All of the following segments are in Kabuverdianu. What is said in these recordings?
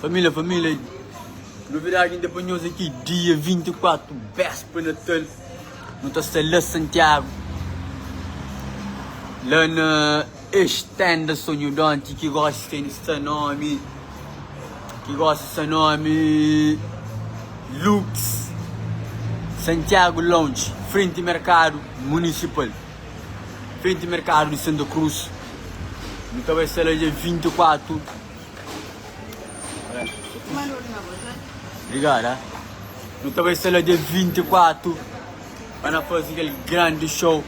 Família, família, novidade ainda para nós aqui, dia 24, véspera Natal, nós tá está lá Santiago, lá na Estenda Sonhodonte, que gosta tem esta nome, que gosta essa nome, Lux Santiago Lounge, frente mercado municipal. frenti merkadu di santa krus nu ta bai sela dia 24 obrigada nu ta bai sela dia 24 pa na fazi kel grandi show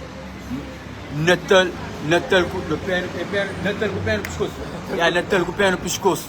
natal natal ku no pera natal ku pera na piskosu ya natal ku pera na piskosu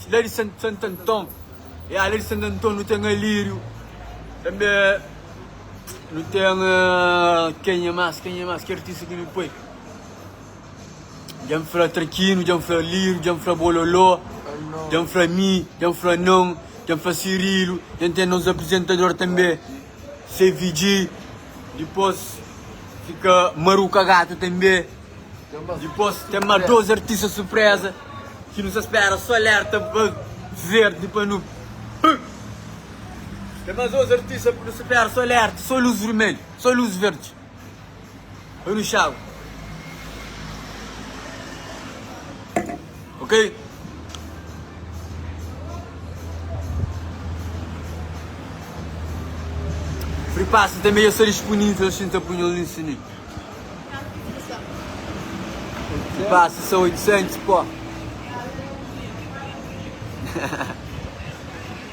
La di Sant Anton, ya la di Sant Anton nu ten Alíriu tanbe nu ten kenha más kenha más ki artista ki nu poi dja N fla Trakinu dja N fla Alíriu dja N fla Bololó dja N fla mi dja N fla non dja N fla Sirilu dja N ten nos aprizentador tanbe. Se vidji dipos fika maruka gata tanbe dipos ten ma dos artista surpresa ki nu sa spera so alerta pa verde pa nu bum ten ma dos artista ki nu sa spera so alerta so luz vermelho so luz verde. Oi nu xagu ok. Fri pasta tanbe dja sta dispunivel si n ta punhal na insini. Fri pasta sta 800 pó.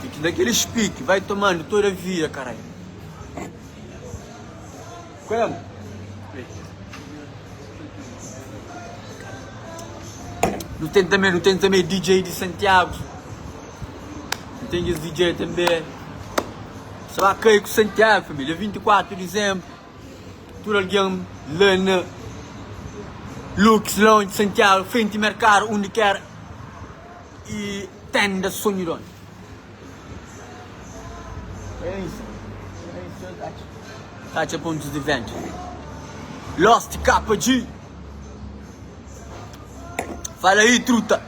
Pique da kelis pique vai tomando toda vida carai. Nu tem também, nu tem também DJ de Santiago. Nu tem esse DJ também. Só vai cair com Santiago, família. 24 de dezembro. Tudo alguém lá na Lux, longe de Santiago, frente mercado, onde quer. Y tenda sonhu di onde. Katxa pontus di ventu. Lost kapa dji. Fala ahi truta.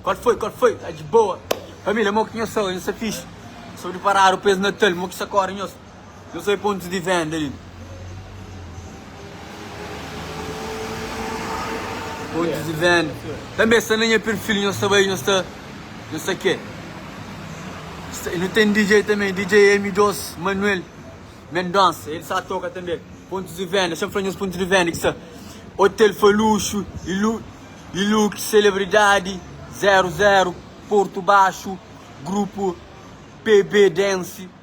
Kal foi, kal foi, tá de boa? Família, mo ki nhos sa oi, nhos sa fixi? Sou di Paradu, pes Natal, mo ki sa kore nhos? Nhos sai pontus di venda li. Pontus di venda. Tanbe sta na nha perfil, nhos ta bai, nhos ta nhos ta ke. Nu ten DJ tanbe, DJ M-dos Manuel Mendonça, el sa toka tanbe. Pontus di venda, dexa-m fla nhos pontus di venda ki sta, Hotel Faluxo, Ilu Ilux, Celebridade, Zero Zero, Porto Baixo, Grupo PB Dance.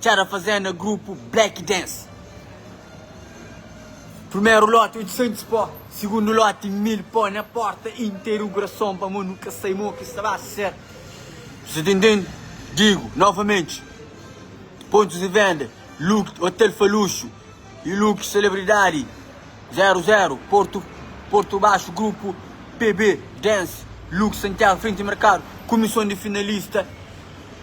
Txera fazenda grupu Black Dance Primeru loti 800 pó Sigundu loti mil pó Na porta interugrason Pamo nu ka sai mo ki sta ba ser Você tem den Digu novamente Pontus di venda Lux hotel fa luxu E lux celebridadi 00 Portu Portu Baxu grupu PB Dance Lux Santiago frenti merkadu Kumison di finalista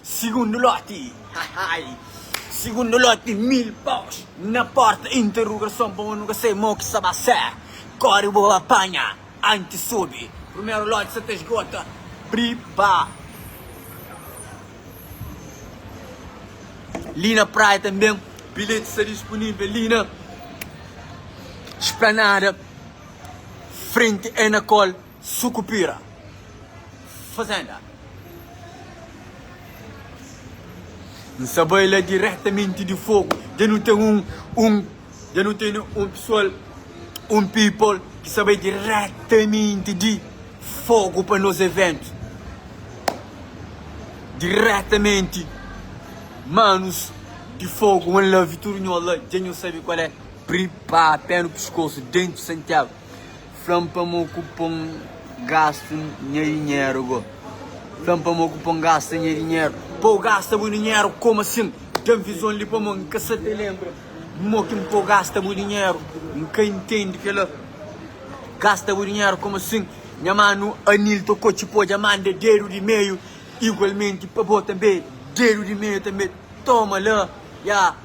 Sigundu loti hahai Sigundu loti mil paus na porta interugason pa bo nu ka sai mo ki sa ba ser kori bo ba panha anti subi primeru loti sa ta sgota pripa li na praia tanben bilheti sa dispunivel li na splanada frenti enacol. Sucupira, fazenda. N sa bai la diretamenti di fogu. Dja nu ten un un dja nu tene un pessoal un people ki sa bai diretamenti di fogu pa nos evento diretamenti manos di fogu wan la vitorinola dja nu sabe kual é pripara pé no pescoço dentro santiago Fla-m pa mo ku pon gastu nha dinheru go Fla-m pa mo ku pon gasta nha dinheru Pa u gasta bu dinheru komu asin Ten vizon li pa mo N ka sa ta lenbra Mo ki N pa u gasta bu dinheru N ka intendi kela Gasta bu dinheru komu asin Nha manu Anil tokô txip odja manda dedu di meiu Igualmenti pa bo tanbe dedu di meiu tanbe Toma la, ya.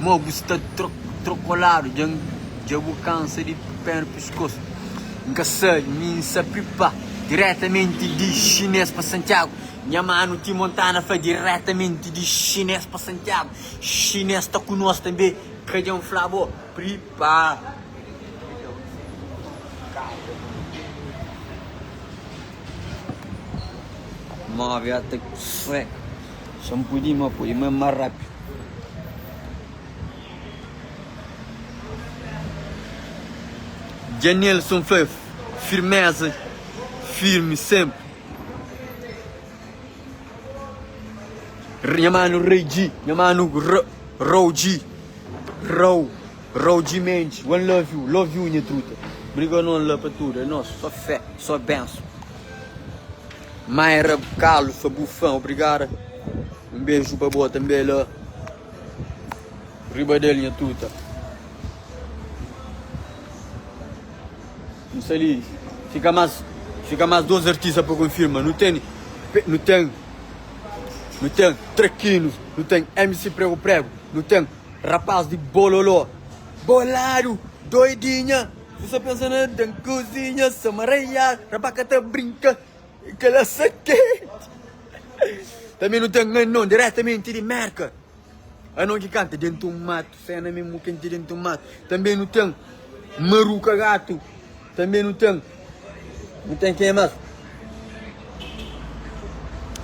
Mo bu sta trokoladu dja N dja bu kansa di pé na piskos N ka sabe mi N sa pipa diretamenti di xinês pa Santiago Nha manu ti Montana fla diretamenti di xinês pa Santiago Xinês ta ku nos tanbê ka dja N fla bo Pripa. Sa N pudi ima poi ima más rápidu. Dja Nelson fla el, Firméza, firmi sénpri. Nha manu Rei Dji, nha manu Rou Dji, Rou, Rou Dji Mendy, one love you, love you nha truta. Briga nô la pa tudu, é nôs, só fé, só benson. Mai ra kalu sa bu fan obrigada um beju pa bo tanbe la riba del nha tuta um sa li fika mas fika mas dos artista pa confirma nu teni nu ten nu ten traquino nu ten MC prego prego nu ten rapaz di bololó boladu doidinha N sa pensa na den kuzinha Sa maraiada, rapá ka ta brinka E kela sa kenti Tanbe nu ten anon diretamenti di Mérka Anon ki kanta denti un matu Sa na memu kenti denti un matu Tanbe nu ten maruka gatu Tanbe nu ten Nu ten kenha más?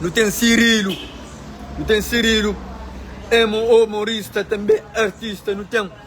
Nu ten sirilu Nu ten sirilu Emo omorista tanbe artista nu ten.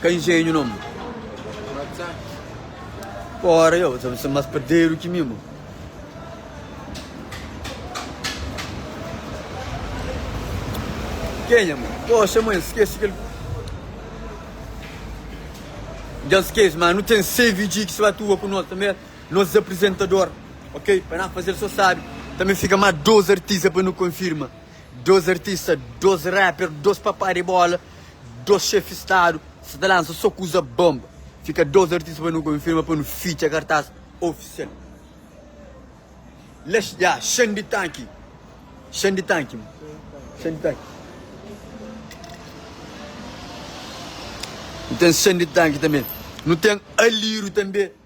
Ka injenhu non. Fora yo, sa sa mas paderu ki mi mo. Kenha mo? Poxa, mãe, esquece aquele. Já esquece, mas não tem CVG que se atua com nós também. Nos aprizentador ok pa na fazel so sabi ta me fika ma dos artista pa nu konfirma dos artista dos rapper dos papá de bola dos xefe stadu sa ta lansa so kuza bonba fika dos artista pa nu konfirma pa nu fitxa kartas ofisial la ya xande tanki xande tanki xande tanki nu ten xande tanki tanbe nu ten aliru tanbe.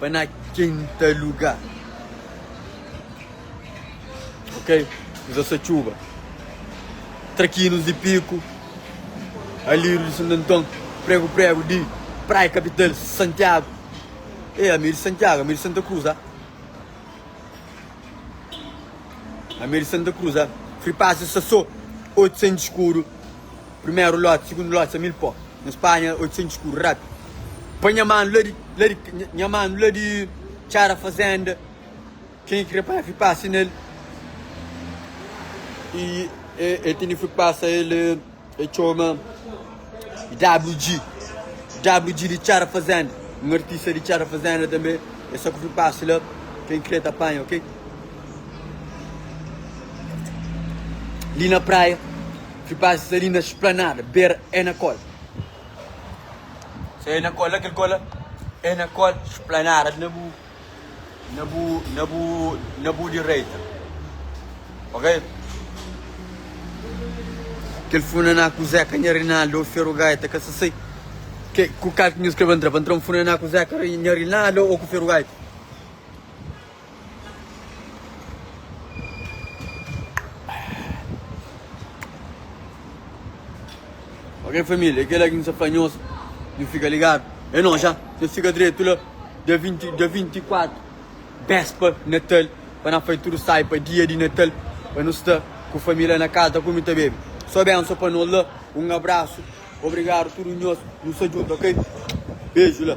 Pa na kenta lugar Ok Uza satxuba Trakinus di piku Aliru di Santu Anton Pregu pregu di Praia kapital Santiagu Ê ami é di Santiagu ami é di Santa Cruz a Ami é di Santa Cruz a Free pass di Sasô Otu sen di skuru. Primeru loti, segundu loti sa mil pó Na Spanha oitosentus escuro Rapi pa nha manu la di la di Nha manu la di txara fazenda Quem é que quer parar fui passa nel E e tene fui passa el E txoma WG WG di txara fazenda Um artista di txara fazenda tanbe E sa ku fui passa la Quem crer ta panha ok. Li na praia Fi pasa sa li na splanada Bera é na kola Sa é na kola kel kola É na kola Splanada na bu Na bu Na bu Na bu direita Ok Kel funaná ku Zeka nha Rinaldo ô Feru Gaita ka sasei ke ku kal ki nhos kreba ntra pa ntra un funaná ku Zeka nha Rinaldo ô ku Feru Gaita. Ok família, é kela ki nhos apanhos, nhos fika ligadu, é nós já, nhos fika dretu la, dia 20, dia 24, béspa di natal, pa na fai tudo sai pa dia di natal, pa nu sta ku família na casa, ta kume ta bebe, só benço pa nós la, um abraço, obrigado tudo nhos, nu sta junto ok, beju la.